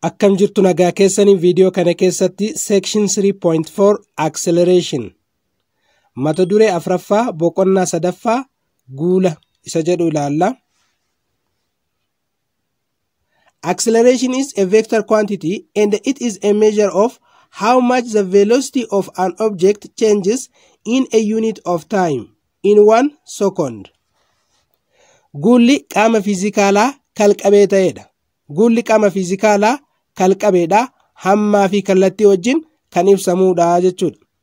Akkam jirtu nagaa keessaniin viidiyoo kana keessatti section 3.4 acceleration mata duree afraffaa boqonnaa sadaffaa guula isa jedhu ilaalla. Acceleration is a vector quantity and it is a measure of how much the velocity of an object changes in a unit of time in one second. Guulli qaama fiizikaalaa kalqabee ta'edha. Guulli qaama fiizikaalaa kalqabeedha. Hammaa fi kallattii wajjin kan ibsamudha jechuudha.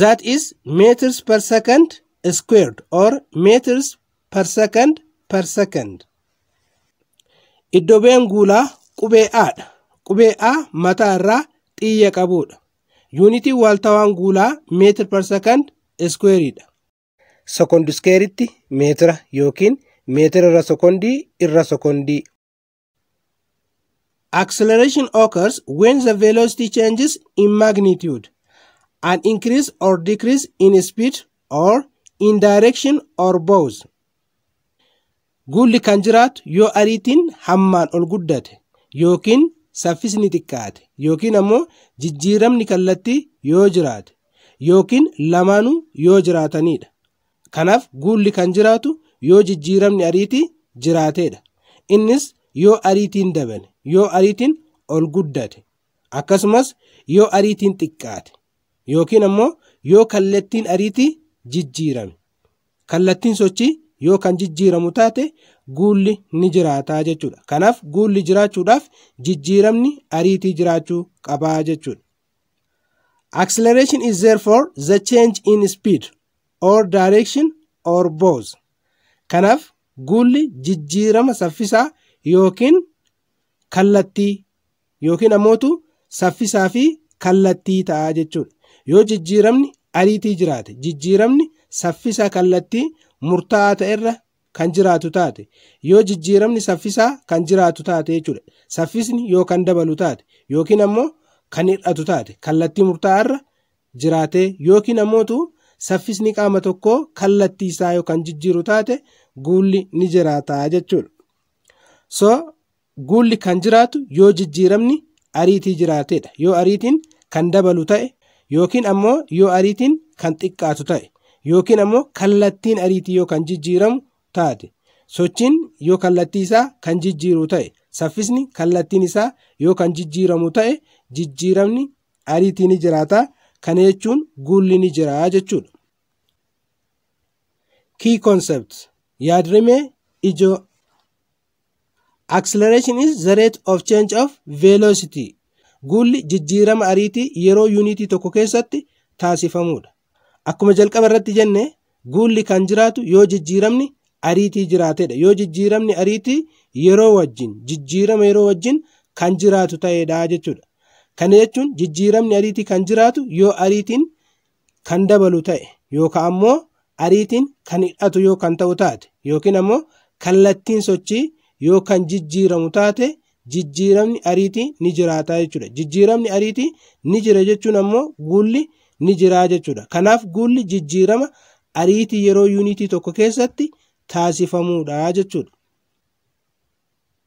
that is meters per second squared or meters per second per second. Iddobeen guulaa qubee A dha. Qubee A mataa irraa xiyya qabuudha. Yuunitiin waaltawaan guulaa meetir per second squared dha. Sekondi iskeeritti meetira yookiin meetira irra sekondii irra sekondii. Acceleration occurs when the velocity changes in magnitude, an increase or decrease in speed or in direction or both. Guulli kan jiraatu yoo ariitiin hammaan ol guddate yookiin saffisni xiqqaate yookiin ammoo jijjiiramni kallattii yoo jiraate yookiin lamaanuu yoo jiraatanidha. Kanaaf guulli kan jiraatu yoo jijjiiramni ariitii jiraateedha. Innis yoo ariitiin dabale, yoo ariitiin ol guddate, akkasumas yoo ariitiin xiqqaate yookiin ammoo yoo kallattiin ariitii jijjiirame. Kallattiin sochii yoo kan jijjiiramu taate guulli ni jiraataa jechuudha. Kanaaf guulli jiraachuudhaaf jijjiiramni ariitii jiraachuu qabaa jechuudha. Acceleration is therefore the change in speed or direction or both. Kanaaf guulli jijjiirama saffisaa yookiin kallattii yookiin ammoo saffisaa fi kallattii ta'a jechuudha. Yoo jijjiiramni ariitii jiraate jijjiiramni saffisa kallattii murtaa'aa ta'erra kan jiraatu taate yoo jijjiiramni saffisaa kan jiraatu taate jechuudha. Saffisni yoo kan dabalu taate yookiin ammoo kan hir'atu taate kallattii murtaa'aarra jiraatee yookiin ammootu saffisni qaama tokkoo kallattii isaa yoo kan jijjiiru taate guulli ni jiraata jechuudha. So Guulli kan jiraatu yoo jijjiiramni ariitii jiraatedha. Yoo ariitiin kan dabalu ta'e yookiin ammoo yoo ariitiin kan xiqqaatu ta'e yookiin ammoo kallattiin ariitii yoo kan jijjiiramu taate sochiin yoo kallattii isaa kan jijjiiru ta'e saffisni kallattiin isaa yoo kan jijjiiramu ta'e jijjiiramni ariitii ni jiraata kana jechuun guulli ni jira jechuudha. Key concepts yaadrimee ijoo Acceleration is the rate of change of velocity. Guulli jijjiirama ariitii yeroo yuunitii tokko keessatti taasifamudha. Akkuma jalqaba irratti jenne guulli kan jiraatu yoo jijjiiramni ariitii jiraatedha. Yoo jijjiiramni ariitii yeroo wajjin jijjiirama yeroo wajjin kan jiraatu ta'edha jechuudha. Kana jechuun jijjiiramni ariitii kan jiraatu yoo ariitiin kan dabalu ta'e yookaan ammoo ariitiin kan hidhatu yoo kan ta'u taate yookiin ammoo kallattiin sochii yoo kan jijjiiramu taate jijjiiramni ariitii ni jiraata jechuudha. Jijjiiramni ariitii ni jira jechuun ammoo guulli ni jiraa jechuudha. Kanaaf guulli jijjiirama ariitii yeroo yuunitii tokko keessatti taasifamuudha jechuudha.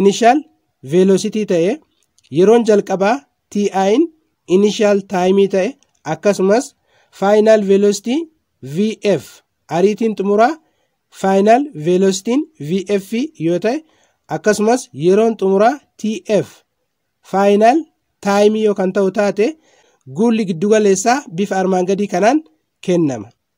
initial velocity ta'e yeroon jalqabaa ti'in initial time ta'e akkasumas final velocity vf ariitiin xumuraa final velocity vf yoo ta'e akkasumas yeroon xumuraa tf final time yoo kan ta'u taate guulli giddugaleessaa bifa armaan gadii kanaan kennama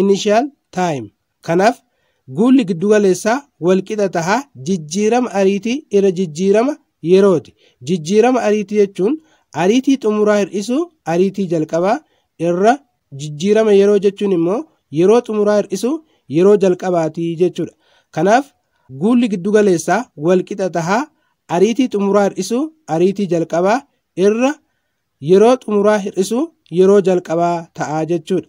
initial time, kanaaf guulli giddugaleessaa walqixa taha jijjiirama ariitii irra jijjiirama yerooti. Jijjiirama ariitii jechuun ariitii xumuraa hir'isuu ariitii jalqabaa irra jijjiirama yeroo jechuun immoo yeroo xumuraa hir'isuu yeroo jalqabaati jechuudha. Kanaaf guulli giddugaleessaa walqixa taha ariitii xumuraa hir'isuu ariitii jalqabaa irra yeroo xumuraa hir'isuu yeroo jalqabaa ta'a jechuudha.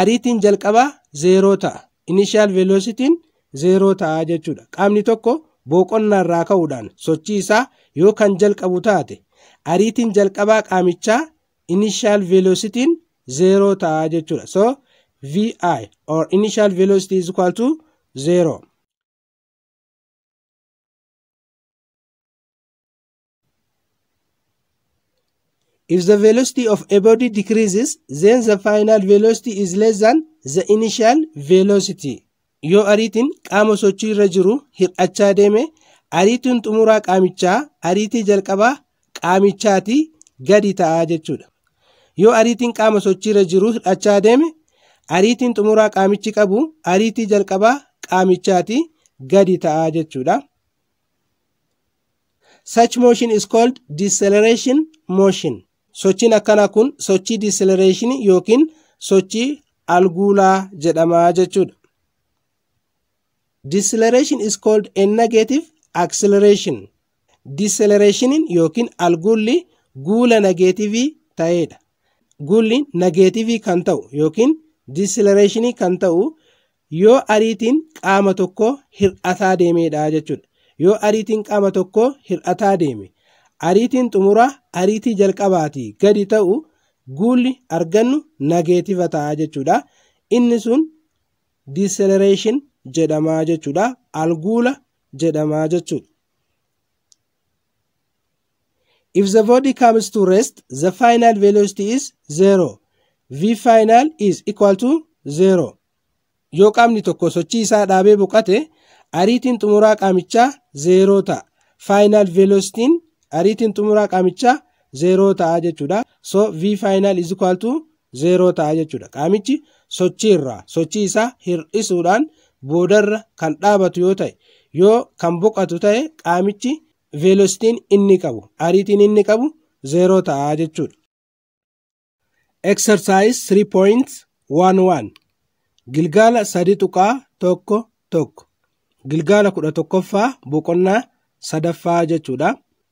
Ariitiin jalqabaa zeeroo ta'a. Initial velocity'n zeeroo ta'a jechuudha. Qaamni tokko booqonnaa irraa ka'uudhaan sochii isaa yoo kan jalqabu taate ariitiin jalqabaa qaamichaa initial velocity'n zeeroo ta'a jechuudha. So vi or initial velocity is equal to zero. If the velocity of a body decreases, then the final velocity is less than the initial velocity. Yoo ariitiin qaama sochii irra jiru hir'achaa deeme, ariitiin xumuraa qaamichaa ariitii jalqabaa qaamichaatii gadi ta'a jechuudha. Yoo ariitiin qaama sochii irra jiru hir'achaa deeme, ariitiin xumuraa qaamichi qabu ariitii jalqabaa qaamichaatii gadi ta'a jechuudha. Such motion is called deceleration motion. Sochiin akkanaa kun sochii deceleration yookiin sochii alguulaa jedhama jechuudha. Deceleration is called a negative acceleration. Decelerationin yookiin alguulli guula nageetivii ta'edha. Guulli nageetivii kan ta'u yookiin deceleration kan ta'u Yoo ariitiin qaama tokkoo hir'ataa deemeedha jechuudha. Yoo ariitiin qaama tokkoo hir'ataa deeme ariitiin xumuraa ariitii jalqabaatii gadi ta'u guulli argannu nageetiva ta'a jechuudha. Inni sun deceleration jedhama jechuudha. Alguula jedhama jechuudha. If the body comes to rest, the final velocity is 0. V final is equal to 0. Yoo qaamni tokko sochii isaa dhaabee boqate, ariitiin xumuraa qaamichaa 0 ta'a. Final velocity ariitiin xumuraa qaamichaa 0 ta'a jechuudha. So V final is equal to zeeroo ta'a jechuudha. Qaamichi sochii irraa sochii isaa hir'isuudhaan boodarra kan dhaabatu yoo ta'e yoo kan boqatu ta'e qaamichi veelositiin inni qabu ariitiin inni qabu zeeroo ta'a jechuudha. Exercise 3.11 Gilgaala 3.11 Gilgaala 11ffaa boqonnaa sadaffaa jechuudha.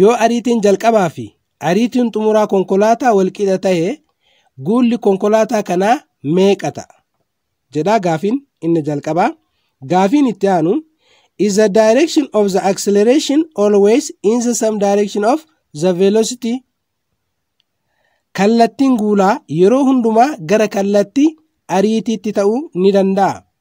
Yoo ariitiin jalqabaa fi ariitiin xumuraa konkolaataa walqixa ta'e guulli konkolaataa kanaa meeqa ta'a? jedhaa gaafiin inni jalqabaa. Gaafiin itti aanu is the direction of the acceleration always in the same direction of the velocity? Kallattiin guulaa yeroo hundumaa gara kallattii ariitiitti ta'uu ni danda'a.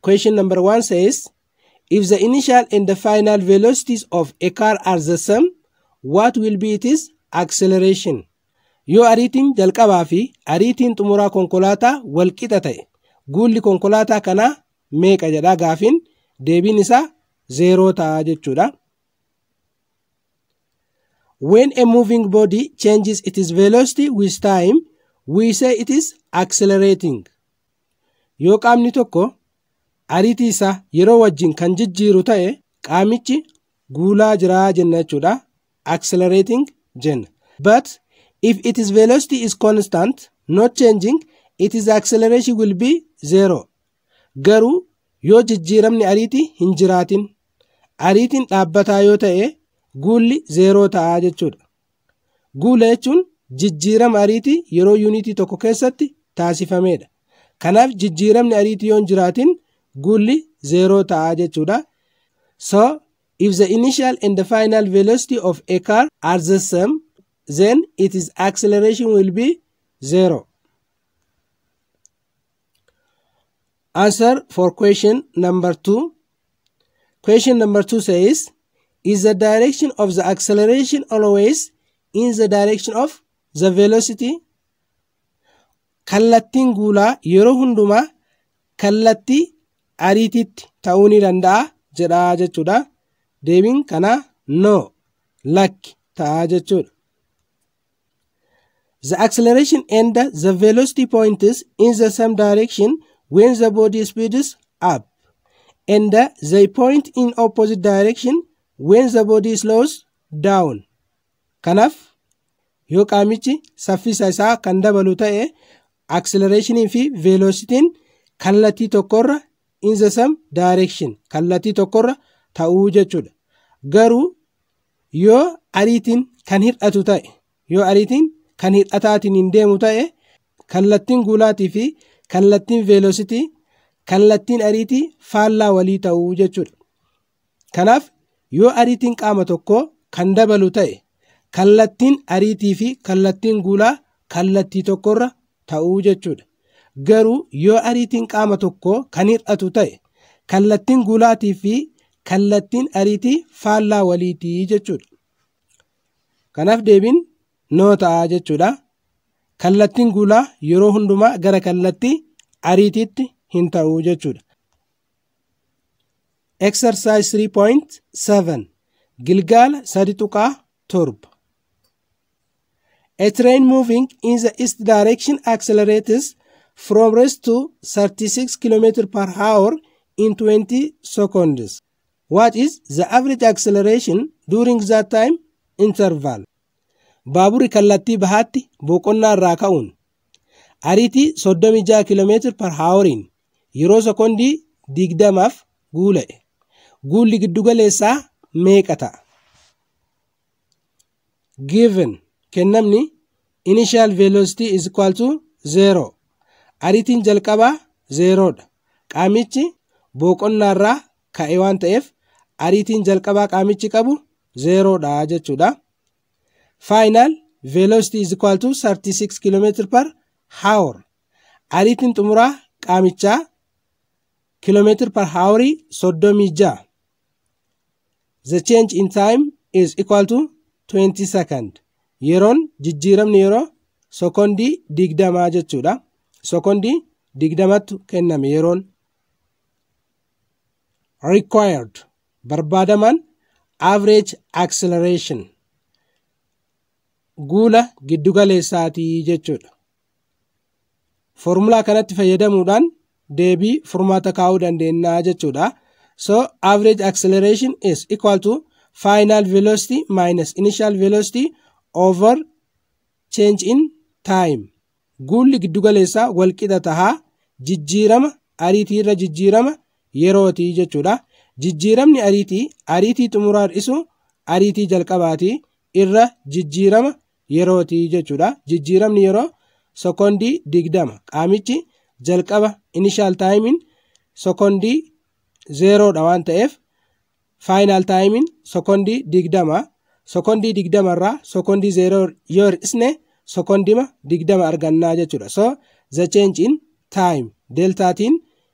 Question number one says, if the initial and the final velocities of a car are the same, what will be its acceleration? Yoo ariitiin jalqabaa fi ariitiin xumuraa konkolaataa wal qixa ta'e, guulli konkolaataa kanaa meeqa jedhaa gaafiin deebiin isaa zeeroo ta'a jechuudha. When a moving body changes its velocity with time, we say it is accelerating. Yoo qaamni tokko ariitii isaa yeroo wajjin kan jijjiiru ta'e qaamichi guulaa jiraa jenna jechuudha. Accelerating jenna. But if its velocity is constant, not changing, its acceleration will be zero. Garuu yoo jijjiiramni ariitii hin jiraatin, ariitiin dhaabbataa yoo ta'e guulli zeeroo ta'a jechuudha. Guula jechuun jijjiirama ariitii yeroo yuuniitii tokko keessatti taasifameedha. Kanaaf jijjiiramni ariitii yoon jiraatin guulli zeeroo ta'a jechuudha. So, if the initial and the final velocity of a car are the same, then its acceleration will be zero. Answer for question number 2. Question number 2 says, Is the direction of the acceleration always in the direction of the velocity? Kallattiin guulaa yeroo hundumaa kallattii ariitiitti ta'uu ni danda'a jedhaa jechuudha. Deebiin kanaa no lakki ta'aa jechuudha. The acceleration and the velocity points in the same direction when the body speeds up, and they point in opposite direction when the body slows down. Kanaaf yoo qaamichi saffisa isaa kan dabalu ta'e acceleration fi velocity kallattii tokkorra in the same direction kallattii tokkorra ta'uu jechuudha. Garuu Yoo ariitiin kan hir'atu ta'e, yoo ariitiin kan hir'ataatiin hin deemu ta'e, kallattiin guulaatii fi kallattiin veelositii kallattiin ariitii faallaa walii ta'u jechuudha. Kanaaf yoo ariitiin qaama tokkoo kan dabalu ta'e, kallattiin ariitii fi kallattiin guulaa kallattii tokkorra ta'uu jechuudha. Garuu yoo ariitiin qaama tokkoo kan hir'atu ta'e kallattiin guulaatii fi kallattiin ariitii faallaa waliitii jechuudha. Kanaaf deebiin noo ta'a jechuudha. Kallattiin guulaa yeroo hundumaa gara kallattii ariitiitti hin ta'u jechuudha. Exercise 3.7 Gilgaala 3.7 A train moving in the east direction accelerates from rest to 36 km per hour in 20 seconds. What is the average acceleration during that time interval? Baaburri kallattii bahaatti boqonnaa irraa ka'uun ariitii 36 km per hour'n yeroo sekondii 20f guula'e. Guulli giddugaleessaa meeqa ta'a? given kennamni initial velocity is equal to 0 ariitiin jalqabaa 0 dha qaamichi booqonnaarraa ka'e waan ta'eef ariitiin jalqabaa qaamichi qabu 0 dha jechuudha final velocity is equal to 36 km per hour ariitiin xumuraa qaamichaa kilomeetir par haawarii 36 the change in time is equal to 20 second yeroon jijjiiramni yeroo sekondii digdamaa jechuudha sekondii digdamattu kenname yeroon required barbaadamaan average acceleration guula giddugaleessaatii jechuudha Foormulaa kanatti fayyadamuudhaan deebii furmaata kaa'uu dandeenya jechuudha. So average acceleration is equal to final velocity minus initial velocity over change in time. Guulli giddugaleessaa walqixa taha jijjiirama ariitii irra jijjiirama yerooti jechuudha. Jijjiiramni ariitii ariitii xumuraa hir'isu ariitii jalqabaati irra jijjiirama yerooti jechuudha. Jijjiiramni yeroo sekoondii digdama. Qaamichi jalqaba inishaal taayimiin sekoondii zeeroodha waan ta'eef faayinaal taayimiin sekoondii digdama. Sekoondii digdama irraa sekoondii zeeroo yoo hir'isne sekoondima digdama argannaa jechuudha. So the change in time deltaatiin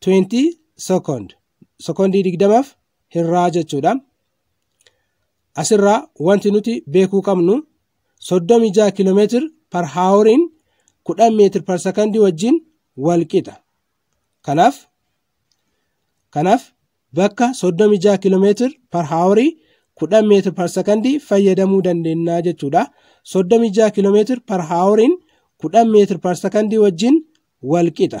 20 second sekondii digdamaaf hirraa jechuudha. Asirraa wanti nuti beekuu qabnu 36 kilomeetir par haaworiin 10 meetir par sekondii wajjin wal qixa. Kanaaf kanaaf bakka 36 kilomeetir par haaworii 10 meetir par sekondii fayyadamuu dandeenya jechuudha. 36 kilomeetir par haaworiin 10 meetir par sekondii wajjin wal qixa.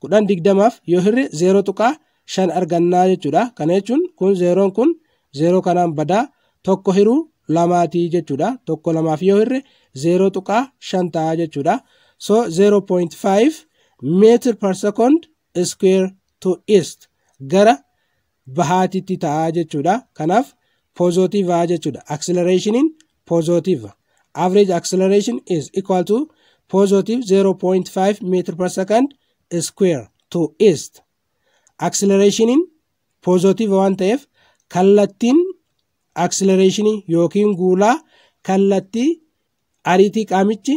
kudhan digdamaaf yoo hirre zeeroo tuqaa shan argannaa jechuudha. Kana jechuun kun zeeroon kun zeeroo kanaan badaa tokko hiruu lamaatii jechuudha. Tokko lamaaf yoo hirre zeeroo tuqaa shan ta'a jechuudha. So 0.5 meetir per second square to east gara bahaatitti ta'a jechuudha. Kanaaf pozootiivaa jechuudha. Aksilareeshiniin pozootiiva. Average acceleration is equal to positive 0.5 meter per second square to east. Aksilareeshiniin pozootiiva waan ta'eef kallattiin aksilareeshinii yookiin guulaa kallattii ariitii qaamichi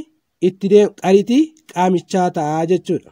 itti ariitii qaamichaa ta'a jechuudha.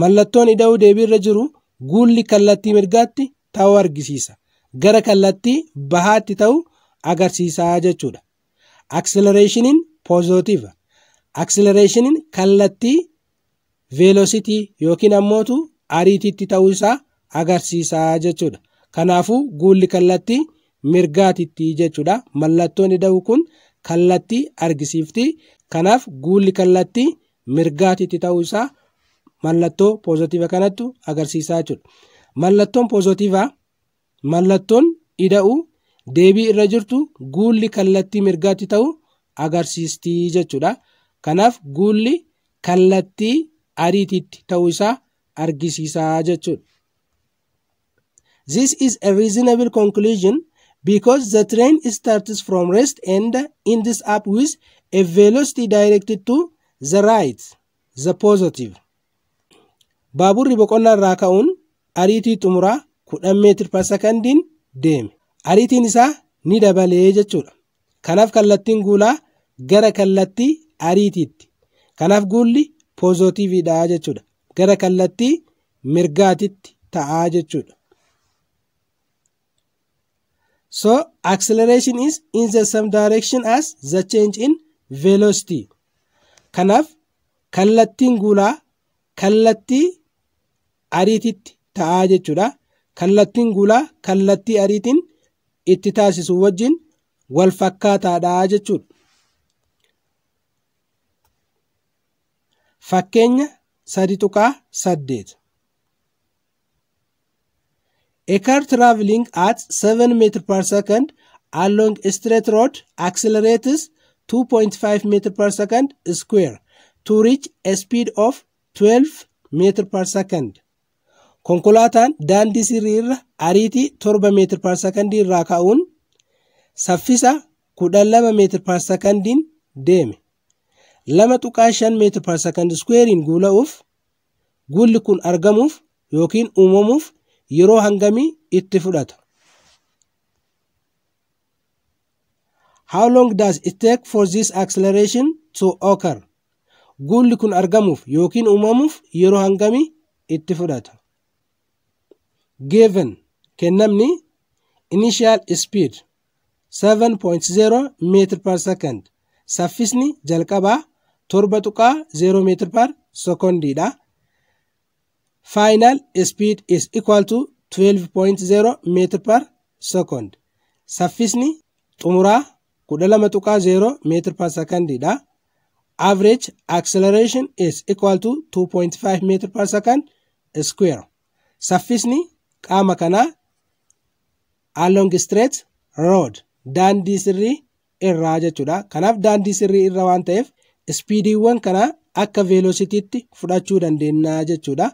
Mallattoon ida'uu deebiirra jiru guulli kallattii mirgaatti ta'uu argisiisa. Gara kallattii bahaatti ta'u agarsiisa jechuudha. Aksilereeshiniin poozootiiva. Aksilereeshiniin kallattii veelositii yookiin ammootu ariitiitti ta'uu isaa agarsiisa jechuudha. Kanaafuu guulli kallattii mirgaatitti jechuudha. Mallattoon ida'uu kun kallattii argisiifti. Kanaaf guulli kallattii mirgaatitti ta'uu isaa mallattoo poozitiiva kanattu agarsiisaa jechuudha. Mallattoon poozitiivaa mallattoon ida'uu deebii irra jirtu guulli kallattii mirgaatti ta'u agarsiistii jechuudha. Kanaaf guulli kallattii ariitiitti ta'uu isaa argisiisaa jechuudha. This is a reasonable conclusion because the train starts from rest and ends up with a velocity directed to the right, the positive. Baaburri boqonnaa irraa ka'uun ariitii xumuraa 10 meetir per secondiin deeme. Ariitiin isaa ni dabalee jechuudha. Kanaaf kallattiin guulaa gara kallattii ariitiitti. Kanaaf guulli poozootiiviidha jechuudha. gara kallattii mirgaatitti ta'a jechuudha. So acceleration is in the same direction as the change in velocity. Kanaaf kallattiin guulaa kallattii ariititti ta'a jechuudha. Kallattiin guulaa kallattii ariitiin itti taasisu wajjin wal fakkaataadha jechuudha. Fakkeenya 3.8 A car traveling at 7 meter per second along a straight road accelerates 2.5 meter per second square to reach a speed of 12 meter per second. Konkolaataan daandii sirrii irra ariitii 7 meetir per sekondii irraa ka'uun saffisa 12 meetir per sekondiin deeme. 2.5 meetir par sakand iskuweeriin guula'uuf guulli kun argamuuf yookiin uumamuuf yeroo hangamii itti fudhata? How long does it take for this acceleration to occur? Guulli kun argamuuf yookiin uumamuuf yeroo hangamii itti fudhata? Given kennamni initial speed 7.0 meetir per second saffisni jalqabaa 7.0 meetir per secondiidha. Final speed is equal to 12.0 meetir per second saffisni xumuraa 12.0 meetir per secondiidha. Average acceleration is equal to 2.5 meetir per second square saffisni qaama kanaa Along straight road daandii sirrii irraa jechuudha. Kanaaf daandii sirrii irra waan ta'eef ispiidiiwwan kana akka veelositiitti fudhachuu dandeenya jechuudha.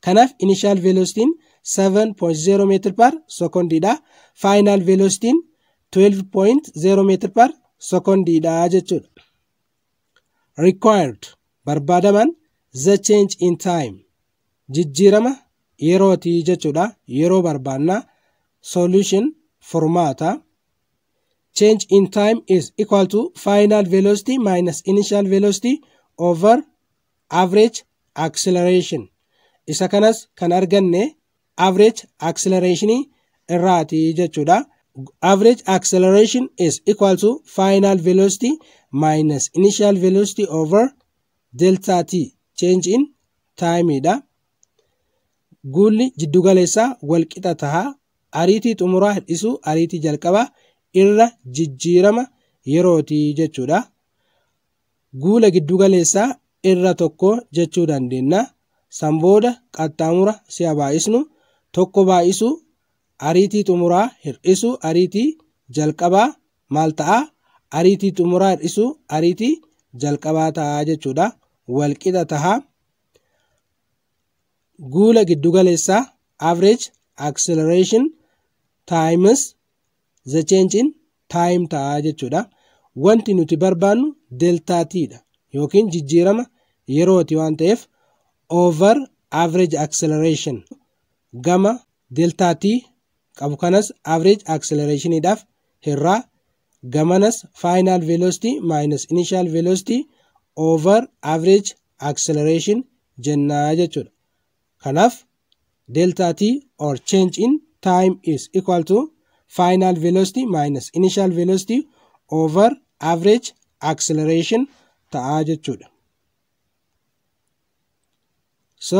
Kanaaf inishaal veelositiin 7.0 meetir par sekondiidha. Faayinaal veelositiin 12.0 meetir par sekondiidha jechuudha. Required barbaadaman the change in time jijjiirama yerooti jechuudha yeroo barbaanna solution furmaata change in time is equal to final velocity minus initial velocity over average acceleration isa kanas kan arganne average acceleration irraati jechuudha average acceleration is equal to final velocity minus initial velocity over Delta T, change in time, dha. Guulli jiddugaleessaa walqixa taha. Ariitii xumuraa hir'isuu ariitii jalqabaa irra jijjiirama yerooti jechuudha. Guula giddugaleessaa irra tokko jechuu dandeenya. San booda qaxxaamura si'a baay'isnu tokko baay'isuu ariitii xumuraa hir'isuu ariitii jalqabaa maal ta'a? Ariitii xumuraa hir'isuu ariitii jalqabaa ta'a jechuudha. Wal qixa ta'a. Guula giddugaleessaa average acceleration times the change in time ta'a jechuudha. Wanti nuti barbaannu deltaa t dha yookiin jijjiirama yerooti waan ta'eef over average acceleration gama deltaa t qabu kanas average acceleration dhaaf hirraa gamanas final velocity minus initial velocity over average acceleration jennaa jechuudha. Kanaaf delta t or change in time is equal to final velocity minus initial velocity over average acceleration ta'aa jechuudha. So